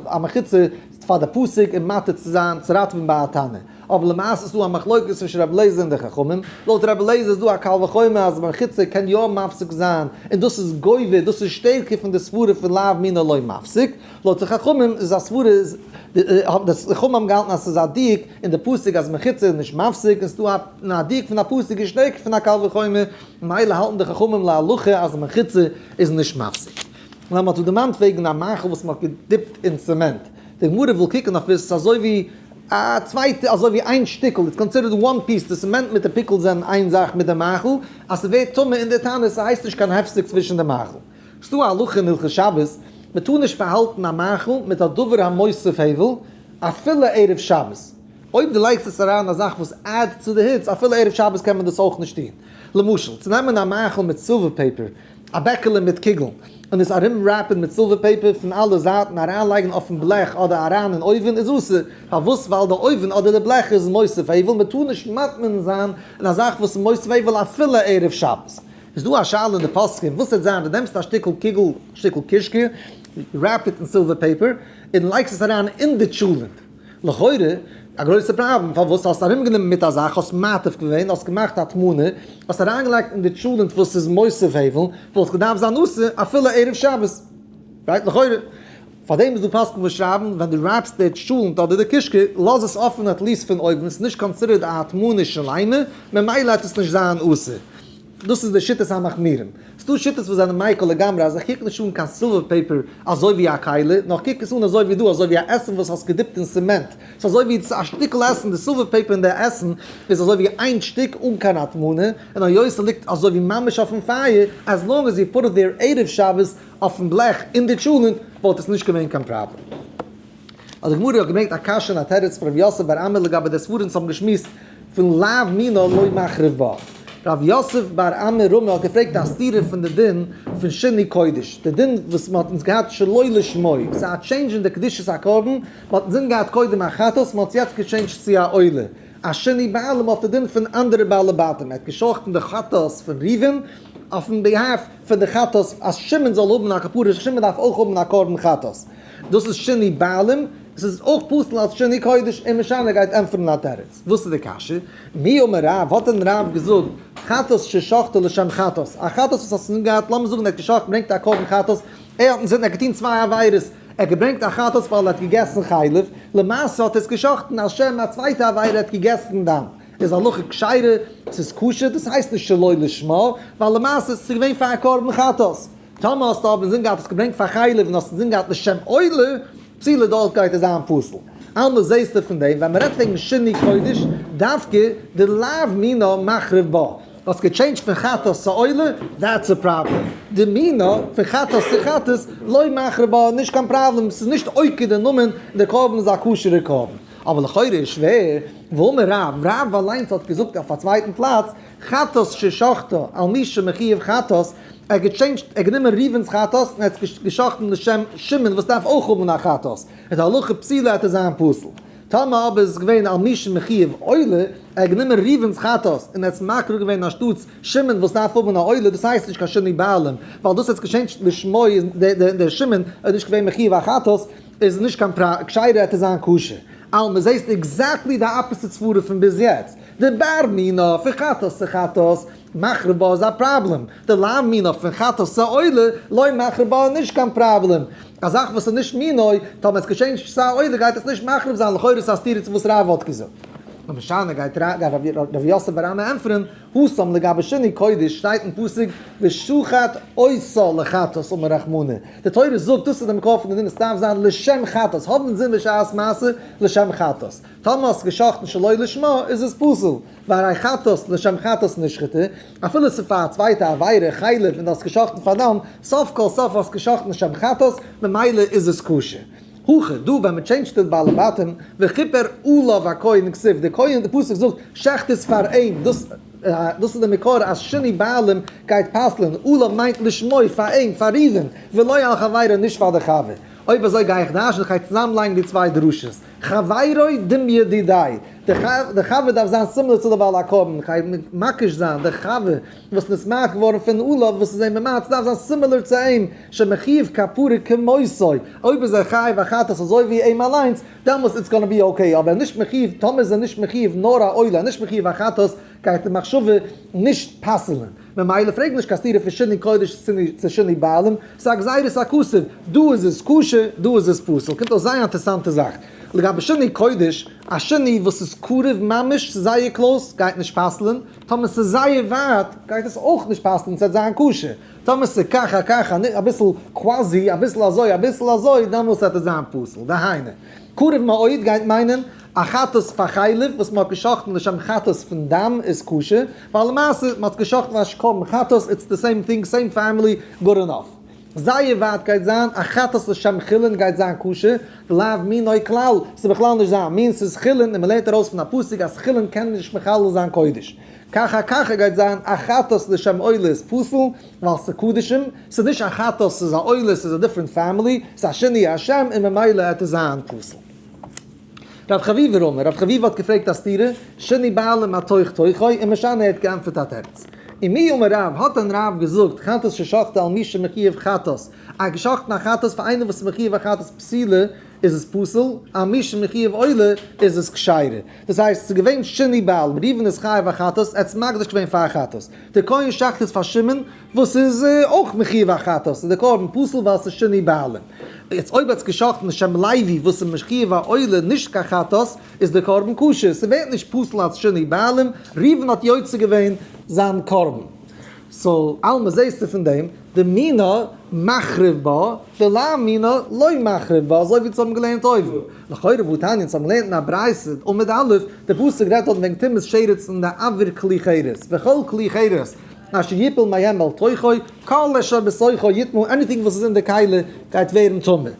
א מחיצה, פאר די פסק און מעתיק צו זיין צו ראטווען ביי א טענה. אבער למעשה איז דא א מחלוקת צווישן רבי אליעזר און די חכמים. לויט רבי אליעזר איז דא א קל וחומר אז מחיצה קען יא מפסיק זיין און דאס איז גובר דאס איז שטערקער פון די סברה פון לאו מינא לא מפסיק. לויט די חכמים איז א סברה איז די חכמים האבן געהאלטן אז ס'איז א דיוק אין די פסק אז מחיצה איז נישט מפסיק און ס'דא א דיוק פון א פסק איז שטערקער פון א קל וחומר ממילא האלטן די חכמים להלכה אז מחיצה איז נישט מפסיק. און אז מען האט זיך דערמאנט וועגן א מאכל וואס מען האט געדיפט אין צעמענט, די גמרא וויל קוקן אויף עס איז אזוי ווי א צווייטע אזוי ווי איין שטיקל, איטס קאנסידערט וואן פיס, די צעמענט מיט די פיקל זענען איין זאך מיט די מאכל, אז ס'ווערט טמא אין די תענית ס'הייסט נישט קיין הפסק צווישן די מאכל. ס'דא א הלכה אין הלכות שבת, מען טאר נישט פארהאלטן א מאכל מיט א דבר המוסיף הבל אפילו ערב שבת, אויב דו לייגסט עס אריין א זאך וואס עדד צו די היץ אפילו ערב שבת קען מען דאס אויך נישט טון, למשל צו נעמען א מאכל מיט סילווער פעפער, א בעקעלע מיט קוגל און עס ארום רעפען מיט סילווער פעיפער פון אלע זייטן אריין לייגן אויפן בלעך אדער אריין אין אויווען איז אסור, פארוואס ווייל די אויווען אדער די בלעך איז מוסף עיוול מען טאר נישט מטמין זיין אין א זאך וואס איז מוסף עיוול אפילו ערב שבת, איז דא א שאלה אין די פוסקים וואס העט זיין די נעמסט א שטיקל קוגל שטיקל קישקע רעפ איט אין סילווער פעיפער אין לייגסט עס אריין אין די טשולענט. לכאורה א גרויסע פראבלעם, פארוואס האסט ארומגענומען מיט א זאך, האסט מעתיק געווען, האסט געמאכט א טמא'נע, האסט אריינגעלייגט אין די טשולענט וואס איז מוסף הבל, וואלט געדארפט זיין אסור אפילו ערב שבת, רייט? לכאורה פאר דעם איז דא פוסקים וואס שרייבן ווען דו רייבסט די טשולענט אדער די קישקע, לאז עס אפען עטליעסט פון אויבן, ס'איז נישט קאנסידערט א טמא'נע שלימה, ממילא העט עס נישט זיין אסור. דאס איז די שיטת המחמירים. ס'דא שיטות וואס זענען מייקל לגמרי אז איך קוק נישט אן קיין סילווער פעיפער אזוי ווי א כלי, נאר איך קוק עס אן אזוי ווי דא, אזוי ווי א עסן וואס האסט געדיפט אין סימענט. ס'איז אזוי ווי א שטיקל עסן, די סילווער פעיפער און די עסן איז אזוי ווי איין שטיק אן קיין הטמנה, און היות ס'ליגט אזוי ווי ממש אויפן פייער, עז לאנג עז יו פוט איט דעיר עירוב שבת אויפן בלעך אין די טשולענט, וואלט עס נישט געווען קיין פראבלעם. אט די גמרא האט געברענגט א קשיא און א תירוץ פון ר' יוסף בר עמי לגבי די ספרים וואס האבן געשמועסט פון לאו מינא לא מחריב בה. ר' יוסף בר עמי רמ א האט געפרעגט א סתירה פון די דין פון שני קודש, די דין וואס מ'האט אונז געהאט שלא לשמה, ס'איז א טשעינדזש אין די קדושת הקרבן, מ'האט אינזין געהאט קודם א חטאת, מ'האט עס יעצט געטשעינדזשט צו א עולה, א שני בעלים אויף די דין פון אנדערע בעלי בתים, ער האט געשאכטן די חטאת פון ראובן אויפן ביהאף פון די חטאת אז שמעון זאל האבן א כפרה, שמעון דארף אויך האבן א קרבן חטאת. דאס איז שני בעלים, עס איז אויך פסול אלס שני קודש, און משנה גייט ענטפערן א תירוץ, וואס איז די קשיא? מי אמר רב, האט דען רב געזאגט חטאת ששחטו לשם חטאת, א חטאת וואס האסט אינזין געהאט, לאמיר זאגן ער האט געשחט, געברענגט א קרבן חטאת, ער האט אינזין, ער האט געטון צוויי עבירות, ער האט געברענגט א חטאת ווייל ער האט געגעסן חלב, למעשה האט ער עס געשחט'ן על שם א צווייטע עבירה, ער האט געגעסן דם, איז הלכה כשרה, ס'איז כשר, דאס הייסט נישט שלא לשמה, ווייל למעשה איז עס געווען פאר א קרבן חטאת. טאמער האסטו אבער אינזין געהאט עס געברענגט פאר חייליב און האסט אינזין געהאט לשם עולה, צילוב דארט גייט עס זיין פסול. אלמער זעהסטו פון דעם ווען מ'רעדט וועגן שני קודש דווקא די לאו מינא מחריב בה. האסט געטשעינדזשט פון חטאת צו עולה, דעטס א פראבלעם. די מינא פון חטאת צו חטאת לא מחריב בה איז נישט קיין פראבלעם, ס'איז נישט עוקר די נאמען און די קרבן איז א כשר'ע קרבן. אבער לכאורה איז שווער, ואמר רב, רב אליינס האט געזאגט אויף א צווייטן פלאץ, חטאת ששחטה על מי שמחיוב חטאת, ער האט געטשעינדזשט, ער האט גענומען ראובן'ס חטאת און ער האט עס געשחט'ן לשם שמעון וואס דארף אויך האבן א חטאת, איז די הלכה פסילה וועט ער זיין פסול. טאמער אבער איז עס געווען על מי שמחיוב עולה, ער האט גענומען ראובן'ס חטאת און ער האט עס מקריב געווען אנשטאטס שמעון וואס דארף האבן א עולה, דאס הייסט נישט קיין שינוי בעלים, ווייל דאס ער האט עס געטשעינדזשט לשמו, דער שמעון איז נישט געווען מחיוב א חטאת, איז עס נישט קיין פראבלעם, כשרע וועט ער זיין כשר. אלמען, זעסט עקזעקטלי די אפעסיט סברה פון ביז יעצט. די בר מינא, פון חטאת צו חטאת. מחרב בה איז א פראבלעם, די לאו מינא פון חטא סעולה לא מחרב בה איז נישט קיין פראבלעם, א זאך וואס איז נישט מינא, טאמער עס געשעהן נישט סעולה גייט עס נישט מחרב זיין, לכאורה איז עס א סתירה צו וואס רבא האט געזאגט. נו משנה גייט ר' יוסף בר עמא ענטפערען, הוא שם לגבי שני קודש שטייט אין פסוק ושחט עושה לחטאת אום הרחמנא, די תורה זאגט דאס איז די מקור פון די דין עס דארף זיין לשם חטאת, האבען אינזין בשעת מעשה לשם חטאת, טאמער האסט געשחט'ן שלא לשמה איז עס פסול. פאר א חטאת לשם חטאת נשחטו, אפילו ס'איז פאר א צווייטע עבירה, חלב, און דו האסט גע'שחט'ן פאר דם, סוף כל סוף האסטו גע'שחט'ן לשם חטאת, ממילא איז עס כשר. הכה דא ווען מ'טשעינדזשט די בעלי בתים, וכיפר עליו הכהן אין כסיף, די כהן, די פסוק זאגט, שחט עס פאר אים, דאס דאס איז די מקור אז שני בעלים גייט פסל'ען, עליו מיינט לשמו, פאר אים, פאר ראובן, ולא על חברו, נישט פאר די חבר. אויב אזוי גיי איך דרש'ן, כ'גיי צוזאמלייגן די צוויי דרשות. חברי דמ ידידיי, די חבר דארף זיין סומלא צו די בעל הקרבן, כ'גיי מבקש זיין די חבר וואס איז נשמח געווארן פון אולב וואס איז אים ממעט, ס'דארף זיין סימילער צו אים, שמחיוב כפרה כמותו, אויב איז ער חייב א חטאת אזוי ווי אים אליינס, דעמאלס איטס גאנא בי אקעי, אבער נישט מחיוב, טאמער איז ער נישט מחיוב נאר א עולה, נישט מחיוב א חטאת, גייט די מחשבה נישט פסל'ן. ממילא פרעג נישט קיין סתירה פון שני קודש צו שני בעלים, ס'איז א גזירה ס'איז א כסף, דא איז עס כשר דא איז עס פסול, קומט אויס זייער אינטערסאנטע זאך, לגבי שני קודש, א שני וואס איז קרוב ממש צו זייער קלאוס גייט נישט פסל'ן, טאמער ס'איז זייער ווייט גייט עס אויך נישט פסל'ן ס'עט זיין כשר, טאמער ס'איז כך א כך אביסל קוואזי אביסל אזוי אביסל אזוי דעמאלס עט עס זיין פסול, דהיינו, קרוב מאוד גייט מיינען א חטאת פאר חלב וואס מען האט גע'שחט'ן לשם חטאת פון דם איז כשר, ווייל למעשה מען האט גע'שחט'ן אזש קרבן חטאת, איטס די סעים טינג, סעים פעמילי, גוד ענאף. זייער ווייט גייט זיין א חטאת לשם חולין גייט זיין כשר, ולאו מינו כלל, ס'איז בכלל נישט זיין מין, ס'איז חולין און מען לערנט ארויס פון א פסוק אז חולין קען נישט מחלל זיין קודש. כך א ככה גייט זיין א חטאת לשם עולה איז פסול ווייל ס'איז קדשים, ס'איז נישט א חטאת ס'איז א עולה ס'איז א דיפרענט פעמילי, ס'איז א שינוי השם און ממילא עט עס זיין פסול. רב חביב רמא, רב חביב האט געפרעגט א סתירה, שני בעלים א תוך תוכו, און משנה ער האט געענטפערט א תירוץ. און מי אמר רב, האט דען רב געזאגט, חטאת ששחטת על מי שמחיוב חטאת, א געשחטן א חטאת פאר איינער וואס איז מחיוב א חטאת פסילה איז עס פסול, על מי שמחיוב עולה איז עס כשרה. דאס הייסט, ס'איז געווען שני בעלים, ראובן איז חייב א חטאת, ער האט עס מקדיש געווען פאר א חטאת. דער כהן שחט עס פאר שמעון, וואס איז אויך מחיוב החטאת, איז די קרבן פסול ווייל עס איז שני בעלים. יעצט אויב האט עס געשאכטן לשם לייבי וואס איז מחיוב העולה נישט קיין חטאת, איז די קרבן כשר, ס'ווערט נישט פסול אלץ שני בעלים, ראובן האט יוצא געווען זיין קרבן. סאו עלמא זעהסטו פון דעם, דאמינא מחריב בה ולא אמינא לא מחריב בה, אזוי ווי אונז האבן געלערנט אויבן. לכאורה וואו תניא, אונז האבן געלערנט אין א ברייתא, עמוד א', דער פסוק רעדט דארט וועגן טומאת שרץ אין די עבר כלי חרס, וכל כלי חרס, מה שיפול מהם מעל תוכו, כל אשר בתוכו יטמא, עניטינג וואס איז אין די קהלה גייט ווערן טמא.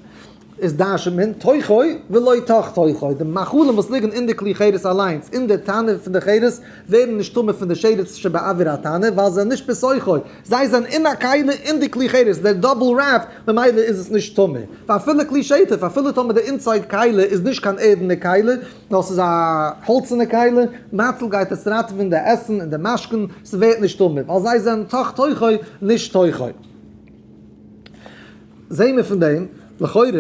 איז דרשו מן תוכו ולא תוך תוכו, די מאכלים וואס ליגן אין די כלי חירות אליינס, אין די טענער פון די חירות, ווערן נישט טמא פון די שרץ שבאוויר הטענער, ווייל זיי זענען נישט בתוכו, זיי זענען אין א קהלה אין די כלי חירות, דער דאבל רעפ, ממילא איז עס נישט טמא. ואפילו כלי שטף, אפילו טאמער די אינסייד קהלה איז נישט קיין ערד אין די קהלה, דאס איז א האלצענע כלי, מאצל גייט עס ראטעווען די עסן און די משכון, ס'ווערט נישט טמא, ווייל זיי זענען תוך תוכו נישט תוכו. זעהן מיר פון דעם לכאורה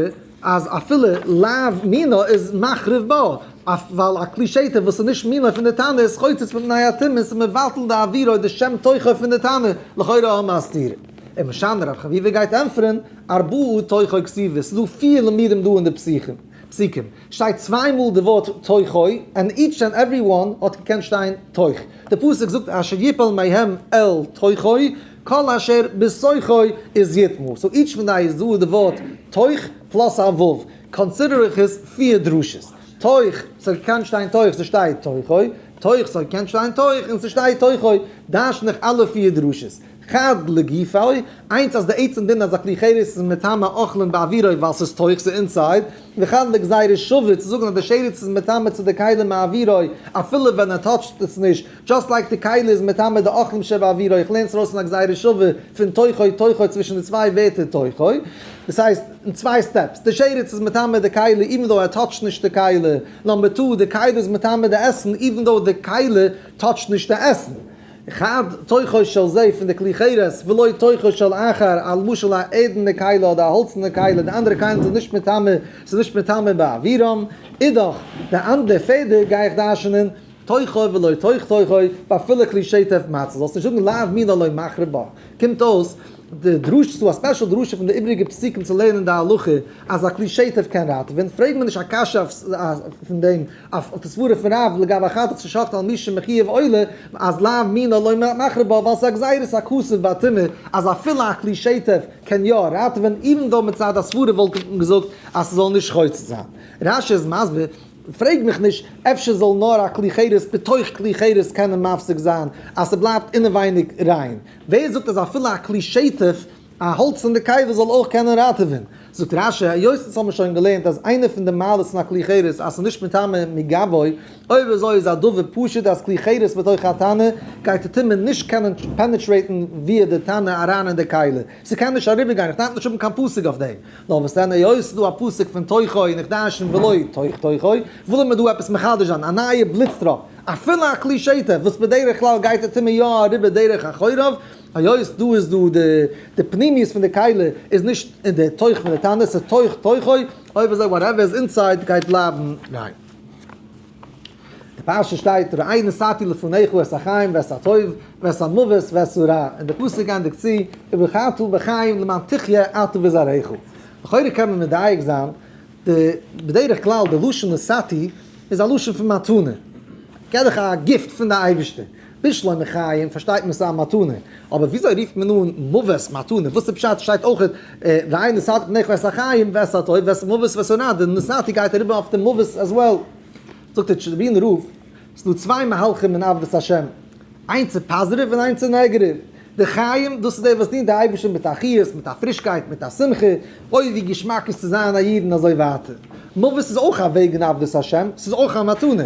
אז אפילו לאו מינא איז מחריב בה, ווייל א כלי שטה וואס איז נישט מינא פון די תנא איז חוצץ פון תנאי הטומאה און ס'איז מבטל די עבירה אויב די שם תוכו פון די תנא, לכאורה האבן מיר א סתירה. און משנה רב חביבה גייט ענטפערען, ארבעה תוכו כסיוות, ס'איז דא פיר למידים דא אין די פסוקים, שטייט צוויי מאל די ווארט תוכו, און איטש ענד עוורי וואן האט געקענט שטיין תוך. די פסוק זאגט אשר יפול מהם אל תוכו, כל אשר בתוכו איז יטמא. סאו איטש פון די איז דא די ווארט תוך פלאס א ו'. קאנסידער איך עס פיר דרשות. תוך, ס'האט געקענט שטיין תוך, ס'שטייט תוכו. תוך, ס'האט געקענט שטיין תוך, און ס'שטייט תוכו. דרש'ן איך אלע פיר דרשות. חד לגופי, איינס אז די עצם דין אז א כלי חירות איז מטעמא אוכלין באווירוי ווייל ס'איז תוך, ס'איז אינסייד, וחד לגזירה שווה צו זאגן אז די שרץ איז מטעמא צו די כלים מאווירוי אפילו ווען ער טאטשט עס נישט, דזשאסט לייק די כלי איז מטעמא די אוכלים שבאווירוי, איך לערן עס ארויס פון א גזירה שווה פון תוכו תוכו צווישן די צוויי ווערטער תוכו, דאס הייסט אין צוויי סטעפס, די שרץ איז מטעמא די כלי איווען דאו ער טאטשט נישט די כלי, נאמבער טו, די כלי איז מטעמא די עסן איווען דאו די כלי טאטשט נישט די עסן. חד תוכו של זה פון די כלי חירות, ולא תוכו של אחר, א למשל א ערדענע כלה אדער א האלצענע כלה, די אנדערע כלים זענען נישט מטמא, ס'איז נישט מטמא באווירם, אידאך די אנדערע פעדער גיי איך דרש'נען תוכו ולא תוך תוכו, ואפילו כלי שטף מצות, זאלסט נישט זאגן לאו מינא לא מחרב בה, קומט אויס די דרשה, ס'איז דא א ספעשל דרשה פון די איבריגע פסוקים צו לערנען די הלכה אז א כלי שטף קען ראטעווען, פרעג מיר נישט א קשיא אויף פון דעם אויף די סברה פון רב לגבי חטאת צו שחט'ן על מישהו מחייב עולה, אז לאו מינא לא מחריב בו, ווייל עס איז א גזירת הכסף והטומאה, אז אפילו א כלי שטף קען יא ראטעווען, איווען דאו מצד הסברה וואלט מען געזאגט אז ס'זאל נישט חוצץ זיין. רש י איז מסביר, פרעג מיך נישט, אפשר זאל נאר א כלי חירס בתוך כלי חירס קענען מפסיק זיין אז ס'בלייבט אינעווייניג ריין. ווער זאגט אז אפילו א כלי שטף א האלץ אין די קיבה זאל אויך קענען ראטעווען. זאגט רש י, היות אונז האבן שוין געלערנט אז איינע פון די מעלות פון א כלי חירס אז ס'איז נישט מטמא מגבוי, אויב אזוי איז א דבר פשוט אז כלי חירס בתוך התנא גייט די טומאה נישט קענען פענעטרעיטן וויער די תנא אריין אין די כלי, ס'קען נישט אריבערגיין, איך דארף נישט האבן קיין פסוק אויף דעם. נאר וואס דען היות ס'איז דא א פסוק פון תוכו און איך דרשן ולא תוך תוכו, ווילן מיר דא עפעס מחדש זיין, א נייע בליץ טראפ, אפילו א כלי שטה וואס בדרך כלל גייט די טומאה יא אריבער דרך החורב, היות דא איז דא די די פנימיות פון די קהלה איז נישט אין די תוך פון די טענה, ס'איז תוך תוכו, אויב איז ער וואטעווער איז אינסייד גייט בלייבן ריין. די פרשה שטייט ראה נשאתי לפניך ואת החיים ואת הטוב ואת המוות ואת הרע, און די פסוק גייענדיג צו ובחרתהו בחיים למען תחיה אתה וזרעך. לכאורה קען מען מדייק זיין די בדרך כלל די לשון נשאתי איז א לשון פון מתנה, כעדיך א גיפט פון די אייבישטער, בשלום מחיים פארשטייט מען ס'איז א מתנה, אבער וויאזוי רופט מען אן מוות מתנה? וואס איז פשט? ס'שטייט אויך והנה נשאתי פניך ואת החיים ואת הטוב ואת מוות ואת הונאה, די נשאתי גייט אריבער אויף די מוות עז וועל. זאגט דער טשערנאבילן רב, ס'דא צוויי מהלכים אין עבדות השם, איינס איז פאזעטיוו און איינס איז נעגעטיוו. די חיים, דאס איז די וואס דינט די אייבערשטן מיט א חיות, מיט א פרישקייט, מיט א שמחה, אוי ווי געשמאק איז צו זיין א איד און אזוי ווייטער. מוות איז אויך א וועג אין עבדות השם, ס'איז אויך א מתנה.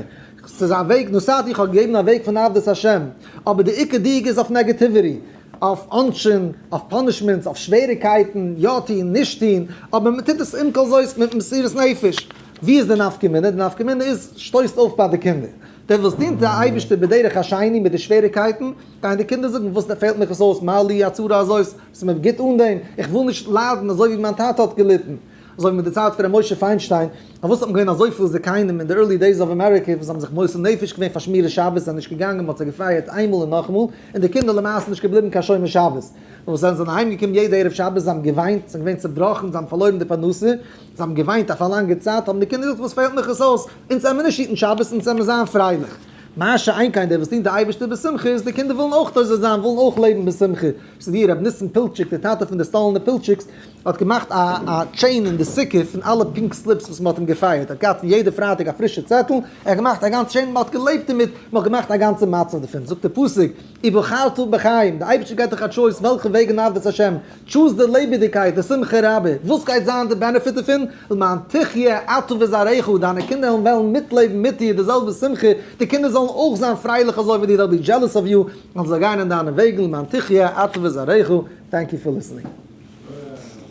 ס'איז א וועג, נוסחת איך האב געגעבן א וועג פון עבדות השם, אבער די עיקר דיוק איז אויף נעגעטיוויטי, אויף עונשין, אויף פאנישמענטס, אויף שוועריקייטן, יא טוהן, נישט טוהן, אבער מען טוט עס עם כל זאת מיט מסירות נפש. ווי איז די נפקא מינה? די נפקא מינה איז, שטויסט אויף ביי די קינדער. די וואס דינט די אייבישטער בדרך השני מיט די שוועריקייטן, גייען די קינדער זאגן וואס פעלט מיך עס אויס, מה לי הצרה הזאת, ס'איז מיר גוט אן דעם, איך וויל נישט ליידן אזוי ווי מיין טאטע האט געליטן. אזוי ווי מיט די צייט פון ר' משה פיינשטיין, פארוואס האט מען געווען אזויפיל זקנים אין די ערלי דעיס אוו אמעריקע וואס האבן זיך מוסר נפש געווען פאר שמירת שבת זענען נישט געגאנגען מ'האט זיי געפייערט איינמאל און נאכמאל און די קינדער למעשה נישט געבליבן קיין שומר שבת נאר וואס זיי זענען אהיים געקומען יעדע ערב שבת זיי האבן געוויינט זיי זענען געווען צעבראכן זיי האבן פארלוירן די פרנסה זיי האבן געוויינט אויף א לאנגע צייט האבן די קינדער געזאגט וואס פעלט מיך עס אויס אונז העמיר נישט היטן שבת אונז העמיר זיין פרייליך מה שאין כן די וואס דינט די אייבערשטער בשמחה איז די קינדער ווילן אויך תוזי זיין ווילן אויך לעבן בשמחה ס'איז ווי ר' ניסן פילטשיק די טאטע פון די סטאלינע פילטשיקס האט געמאכט א א טשעין אין די סוכה פון אלע פינק סליפס וואס מ'האט אים געפייערט, ער האט געהאט פון יעדע פרייטאג א פרישע צעטל, ער האט געמאכט א גאנץ טשעין, מ'האט געלעבט דערמיט, מ'האט געמאכט א גאנצע מצב דערפון, זאגט דער פסוק, ובחרתו בחיים, די אייבערשטער געבט דיך א טשויס וועלכע וועג אין עבודת השם, טשוז די לעבעדיגקייט, די שמחה רבה, וואס גייט זיין די בענעפיט דערפון, למען תחיה אתה וזרעך, דיינע קינדער וועלן מיטלעבן מיט דיר די זעלבע שמחה, די קינדער זאלן אויך זיין פרייליך אזוי ווי דיר, they'll be jealous of you, און זיי גייען אין דיינע וועגן למען תחיה אתה וזרעך, טענק יו פאר ליסענינג.